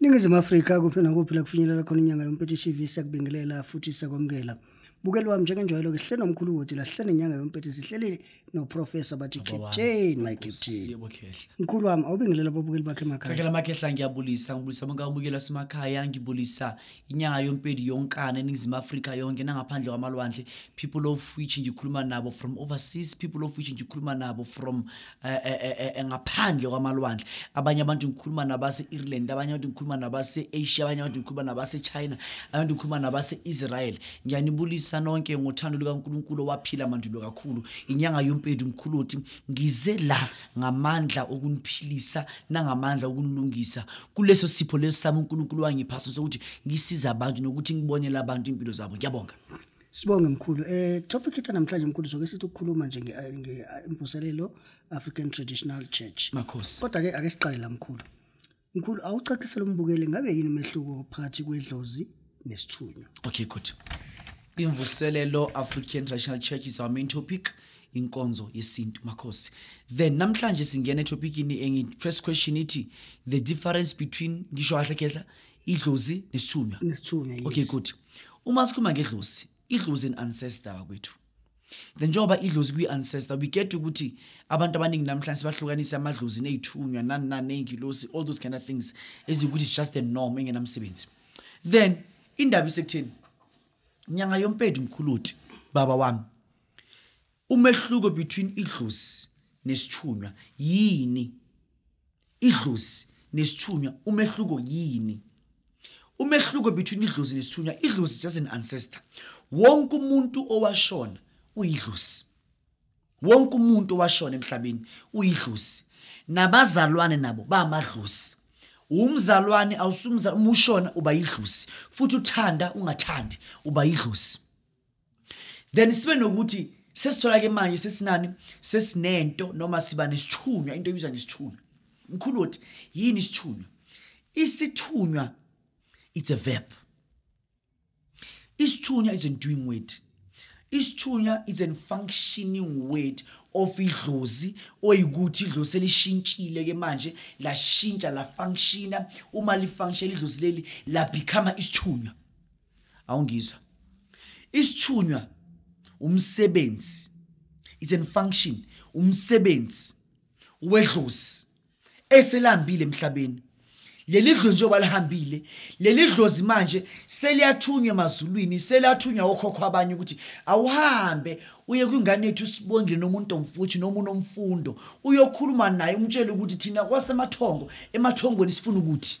Ningizimu Afrika kuphi nakuphi la kufinyelela khona inyanga yompethu TV sakubingelela futhi sakwamukela. Bukelwa njengenjwayelo ke sihlele nomkhulu wodi la sihlele inyanga yompethu sihleli no professor bathi captain my captain. Yebo khehla. Mkhulu wami awubingelela ababukeli bakhe emakhaya. Khehla makhehla ngiyabulisa ngibulisa bonke ababukeli basemakhaya ngibulisa inyanga yompethu yonkana eningizimu Afrika yonke nangaphandle kwamalwandle people of which ngikhuluma nabo from overseas people of which ngikhuluma nabo from Eh, eh, eh, ngaphandle kwamalwandle abanye abantu ngikhuluma nabase-ireland abanye abantu ngikhuluma nabase-asia abanye abantu ngikhuluma nabase-china abantu ngikhuluma nabase-israel ngiyanibulisa nonke ngothando lukankulunkulu owaphila mandulo kakhulu inyanga yompedu mkhuluti ngize la ngamandla okuniphilisa nangamandla okunilungisa kuleso sipho lesi sami unkulunkulu wangiphaso sokuthi ngisize abantu nokuthi ngibonele abantu iy'mpilo zabo ngiyabonga Sibonge mkhulu. Eh topic ethu namhlanje mkhulu soke sithi ukukhuluma nje ngemvuselelo eh, African Traditional Church. Makhosi. Kodwa ke ake siqale la mkhulu. Mkhulu awucacisela umbukeli ngabe yini umehluko phakathi kwedlozi nesithunywa? Okay good. Imvuselelo African Traditional Church is our main topic. inkonzo yesintu makhosi then namhlanje singena etopikini engi first question ithi the difference between ngisho kahle khehla idlozi nesithunywa nesithunywa yes. okay good uma sikhuluma ngedlozi idlozi an ancestor bakwethu then njengoba idlozi kwi-ancestor we get ukuthi abantu abaningi namhlanje sebahlukanise amadlozi neyithunywa nani nani neyingilosi all those kind of things ezikuthi it's just a norm engenamsebenzi then indaba isekutheni nyanga yompedu mkhuluti baba wami Umehluko between idlozi nesithunywa yini? Idlozi nesithunywa umehluko yini? Umehluko between idlozi nesithunywa, idlozi is just an ancestor. Wonke umuntu owashona uyidlozi. Wonke umuntu owashona emhlabeni uyidlozi. Nabazalwane nabo bamadlozi. Umzalwane awusumza umushona uba yidlozi futhi uthanda ungathandi uba yidlozi. then sibe nokuthi sesithola ke manje sesinani sesinento noma siba nesithunywa into ebizwa ngesithunywa mkhulu othi yini isithunywa isithunywa it's a verb isithunywa is a doing word isithunywa is a functioning word of idlozi oyikuthi idlozi selishintshile ke manje lashintsha la functiona uma li function idlozi leli la become isithunywa awungizwa isithunywa umsebenzi is in function umsebenzi wedlozi eselambile emhlabeni leli dlozi njengoba lihambile leli dlozi manje seliyathunywa emazulwini seliyathunywa okhokho abanye ukuthi awuhambe uye kwingane yethu usibongile nomuntu omfuthi noma unomfundo uyokhuluma naye umtshele ukuthi thina kwasemathongo emathongweni sifuna ukuthi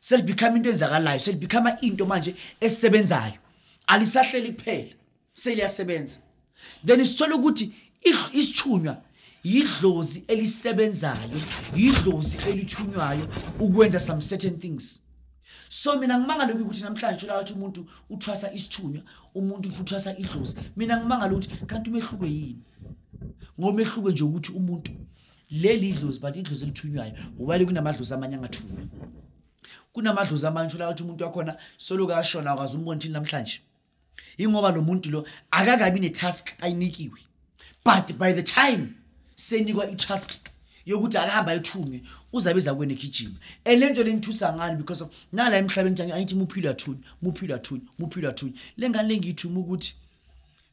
selibekhama into enzakalayo selibekhama into manje esisebenzayo alisahleli kuphela seliyasebenza then sithola ukuthi isithunywa yidlozi elisebenzayo yidlozi elithunywayo ukwenza some certain things so mina ngimangale ukuthi namhlanje thola ukuthi umuntu uthwasa isithunywa umuntu uthwasa idlozi mina ngimangale ukuthi kanti umehluko yini ngomehluko nje ukuthi umuntu leli idlozi but idlozi elithunywayo wale kunamadlozi amanye angathunywa kunamadlozi amanye uthola ukuthi umuntu wakhona soloke ashona akwazi umbona thini namhlanje yingoba lo muntu lo akakabi ne-task ayinikiwe but by the time senikwa i-task yokuthi akahamba ayothunywe uzabiza kwena egijima and le nto le ngithusa ngani because of nala emhlabeni nje angithi muphilo athunywe muphilo athunywe muphilo athunywe le ngane le ngiyithuma ukuthi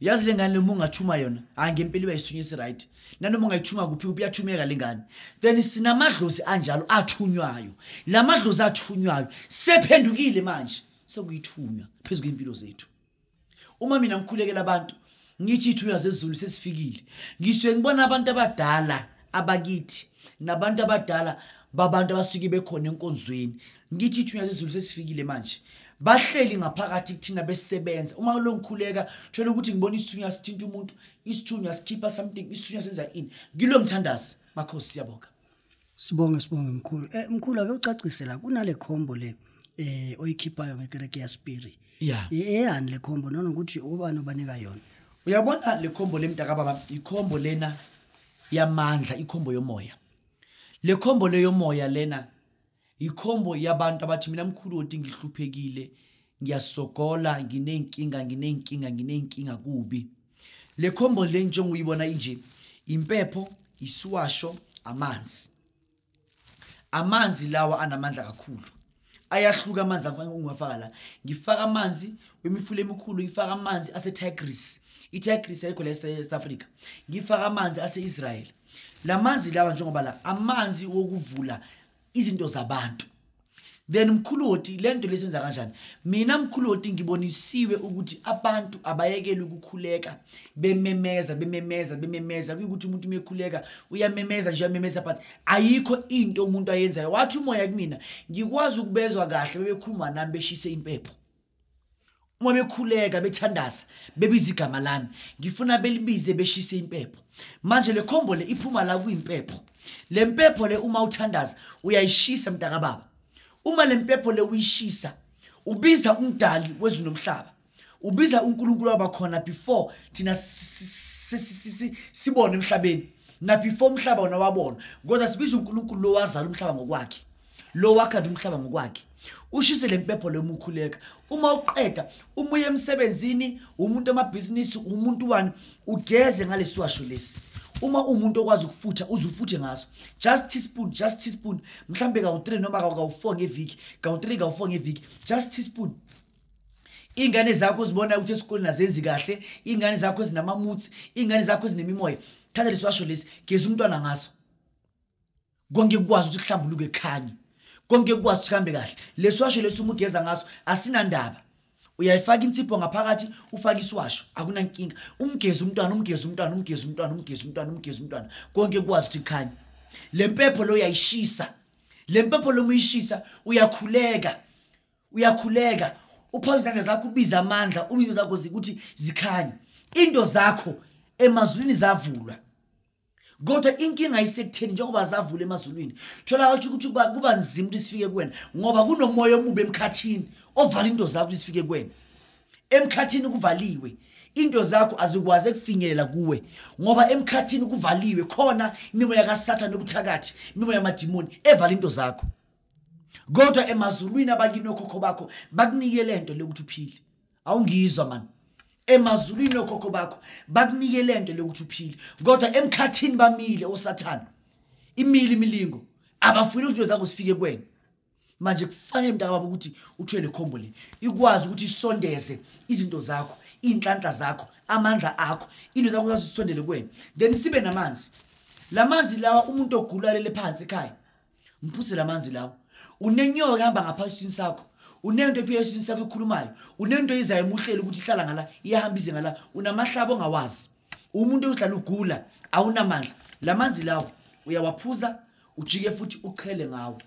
yazi le ngane uma ungathuma yona hayi ngempela iba yisithunyisi right nanoma ungayithuma kuphi kuphi iyathumeka le ngane then sinamadlozi anjalo athunywayo la madlozi athunywayo sephendukile manje sekuyithunywa phezu kwey'mpilo zethu uma mina ngikhulekela abantu ngithi iy'thunywa zezulu sesifikile ngisuke ngibona abantu abadala abakithi nabantu abadala babantu abasuke bekhona enkonzweni ngithi ithunya zezulu sesifikile manje bahleli ngaphakathi kuthina besebenza uma lo ngikhuleka thola ukuthi ngibona isithunywa sithinta umuntu isithunywa sikhipha something isithunywa senza ini ngilo mthandazi makhosi siyabonga sibonge sibonge mkhulu eh mkhulu ake ucacise la kunale combo le eh oyikhiphayo ngekereke ya spirit yeah eyani le combo nona ukuthi ubani obanika yona uyabona le combo lemntaka baba ikhombo lena yamandla ikhombo yomoya le combo leyomoya lena Yikhombo yabantu abathi mina mkhulu oti ngihluphekile ngiyasogola nginey'nkinga nginey'nkinga nginey'nkinga kubi le khombo le njenguyibona inje impepho isiwasho amanzi amanzi lawa anamandla kakhulu ayahluka amanzi ngiwafaka la ngifaka amanzi wemifula emikhulu ngifaka amanzi asetigris itigris ayikho la e-south africa ngifaka amanzi ase-israyeli lamanzi lawa njengoba la amanzi wokuvula izinto zabantu then mkhuloti lento lesenza kanjani mina mkhuloti ngibonisiwe ukuthi abantu abayekele ukukhuleka bememeza bememeza bememeza kuyukuthi umuntu umekhuleka uyamemeza nje uyamemeza but ayikho into umuntu ayenzayo wathi umoya kumina ngikwazi ukubezwa kahle bebekhuluma nami beshise impepho uma bekhuleka bethandaza bebiza igama lami ngifuna belibize beshise impepho manje le khombo le iphuma la kuyimpepho le mpepho le uma uthandaza uyayishisa mntakababa uma le mpepho le uyishisa ubiza umdali wezulu nomhlaba ubiza unkulunkulu wabakhona before thina sibone emhlabeni nabefore umhlaba wona wabona kodwa sibiza unkulunkulu lowazala umhlaba ngokwakhe lo wakhanda umhlaba ngokwakhe ushise le mpepho le mukhuleka uma uqeda uma uye emsebenzini umuntu amabhizinisi umuntu wani ugeze ngalesiwasho lesi uma umuntu okwazi ukufutha uze ufuthe ngaso just teaspoon just teaspoon mhlawumbe kawu-three noma kawu-four ngeviki kawu-three kawu-four ngeviki just teaspoon iy'ngane zakho uzibona ukuthi esikoleni azenzi kahle iy'ngane zakho ezinamamutsi iy'ngane zakho ezinemimoya thatha lesiwasho lesi geza umntwana ngaso konke kukwazi ukuthi kuhlambuluke khanye konke kukwazi ukuthi kuhambe kahle lesiwasho lesi uma ugeza ngaso asinandaba uyayifaka insipho ngaphakathi ufake isiwasho akunankinga umgezi umntwana umgezi umntwana umgezi umntwana umgezi umntwana umgezi umntwana konke kukwazi ukuthi kukhanye le mpepho lo uyayishisa le mpepho lo muyishisa uyakhuleka uyakhuleka uphawu izandla zakho ubiza amandla ubizo zakho ukuthi zikhanye into zakho emazwini zavulwa kodwa inkinga isekutheni njengoba zavula emazulwini thola watsho ukuthi kuba nzima ukuthi sifike kuwena ngoba kunomoya omubi emkhathini ovala into zakho ukuthi sifike kuwena emkhathini kuvaliwe into zakho azikwazi ekufinyelela kuwe ngoba emkhathini kuvaliwe khona imimoya kasathane obuthakathi imimoya yamadimoni evala into zakho kodwa emazulwini abakini okhokho bakho bakunikele nto le ukuthi uphile awungizwa mani emazulwini okhokho bakho bakunike le nto lokuthi uphile kodwa emkhathini bamile osathane imile imilingo abafuni ukuthi into zakho zifike kwena manje kufanele mntakababa ukuthi uthwele khombo le ikwazi ukuthi isondeze izinto zakho iy'nhlanhla zakho amandla akho into zakho zazi zisondele kwena then sibe namanzi la manzi lawa umuntu ogulalele phansi ekhaya mphuzela amanzi lawo unenyoka ehamba ngaphansi esiswini sakho unento ephila esiswini sakho ekhulumayo unento eyizayo emuhleli ukuthi ihlala ngala iyahamba ize ngala unamahlaba ongawazi umuntu ohlala ugula awunamandla la manzi lawo uyawaphuza ujike futhi uchele ngawo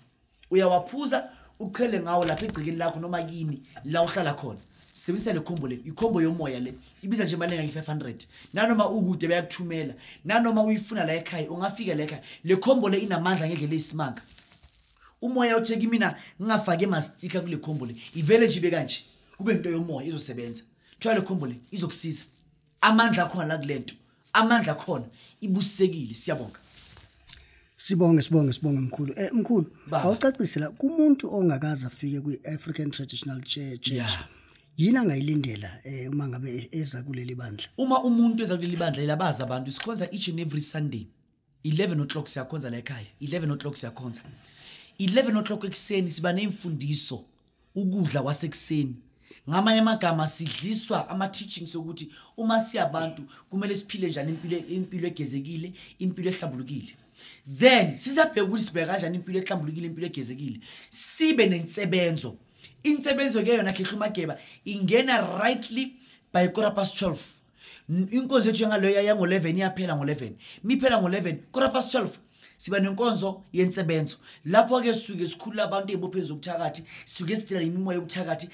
uyawaphuza uchele ngawo lapha egcikeni lakho noma kini la uhlala khona sebenzisa le khombo le ikhombo yomoya le ibiza nje imali engange-500 nanoma ukude bayakuthumela nanoma uyifuna la ekhaya ungafika la ekhaya le khombo le inamandla ngendlela eyisimanga umoya othe kimina ngingafake mastika kule khombo le ivele nje ibe kanje kube into yomoya izosebenza kuthiwa le khombo le izokusiza amandla akhona la kulento amandla akhona ibusisekile siyabonga Sibonge sibonge sibonge mkhulu. Eh mkhulu, awucacise la kumuntu ongakaze afike kwi African Traditional Church. Yeah. Yini angayilindela eh uma ngabe eza kuleli bandla? Uma umuntu eza kuleli bandla elabaza abantu sikhonza each and every Sunday. 11 o'clock siyakhonza la ekhaya 11 o'clock siyakhonza 11 o'clock ekuseni siba neimfundiso ukudla kwasekuseni ngamanye amagama sidliswa ama-teaching sokuthi uma siyabantu kumele siphile njani impilo impilo egezekile impilo ehlambulukile then sisabheka ukuthi sibheka kanjani impilo ehlambulukile impilo egezekile sibe nensebenzo insebenzo ke yona khehla umageba ingena rightly by quarter past 12 inkonzo yethu yangaloya yango-11 iyaphela ngo-11 miphela ngo-11 quarter past 12 siba nenkonzo yensebenzo lapho-ke sisuke sikhulula abantu ey'bopheni zobuthakathi sisuke sidela imimoya yobuthakathi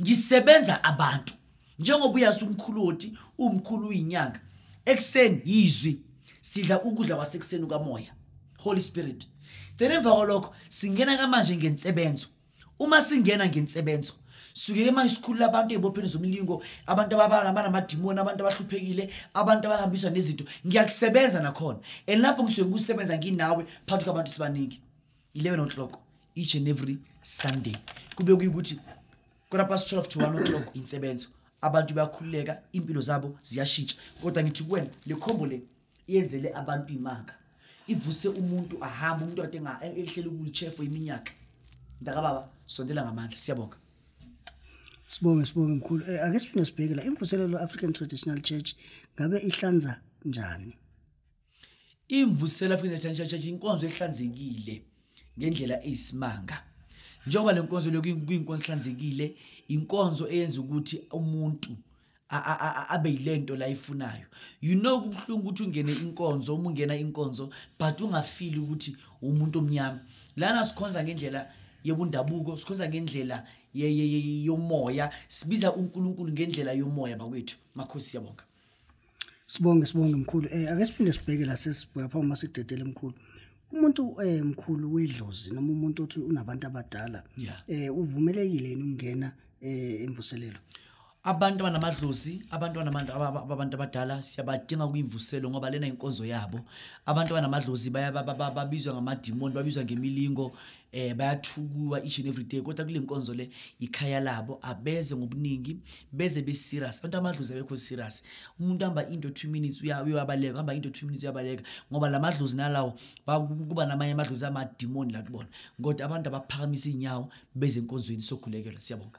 ngisebenza abantu njengoba uyazi umkhulu woti umkhulu uyinyanga ekuseni yizwi sidla ukudla kwasekuseni ukamoya holy spirit then emva kwalokho singena kamanje ngensebenzo uma singena ngensebenzo sukeke manje sikhulula abantu ey'bopheni zomlingo abantu abanamadimoni abantu abahluphekile abantu abahambiswa nezinto ngiyakusebenza nakhona and lapho ngisuke ngikusebenza nginawe phakathi kwabantu sibaningi 11 o'clock each and every sunday kube kuyukuthi kona past 12 to 1 o'clock insebenzo abantu bayakhululeka impilo zabo ziyashintsha kodwa ngithi kuwena le khombo le yenzele abantu imanga ivuse umuntu ahambe umuntu ade ehlela ukulichefu iminyaka ndakababa sondela ngamandla siyabonga sibonge sibonge mkhulu eh, ake siphinde sibheke la imvuselelo African Traditional Church ngabe ihlanza njani imvusela African Traditional Church inkonzo ehlanzekile ngendlela eyisimanga njengoba lenkonzo lokuyinkonzo ehlanzekile inkonzo eyenza ukuthi umuntu abe yilento la ifunayo you know kubuhlungu ukuthi ungene inkonzo uma ungena inkonzo but ungafili ukuthi umuntu omnyama lana sikhonza ngendlela yebundabuko sikhonza ngendlela yomoya sibiza uNkulunkulu ngendlela yomoya bakwethu makhosi siyabonga sibonge sibonge mkhulu eh ake siphinde sibheke la sesibheka phambi uma sidedele mkhulu umuntu eh mkhulu wedlozi noma umuntu othi unabantu abadala eh uvumelekile yini ukungena eh emvuselelo abantu abanamadlozi abantu abantu abadala siyabadinga kuyimvuselo ngoba lena inkonzo yabo abantu abanamadlozi babizwa ngamadimoni babizwa ngemilingo eh bayathukuwa each and every day kodwa kule nkonzo le ikhaya labo abeze ngobuningi beze be serious abantu amadlozi abekho serious umuntu hamba into 2 minutes uyabaleka hamba into 2 minutes uyabaleka ngoba lamadlozi nalawo kuba namanye amadlozi amadimoni la kubona kodwa abantu abaphakamisa inyawo beze enkonzweni sokhulekela siyabonga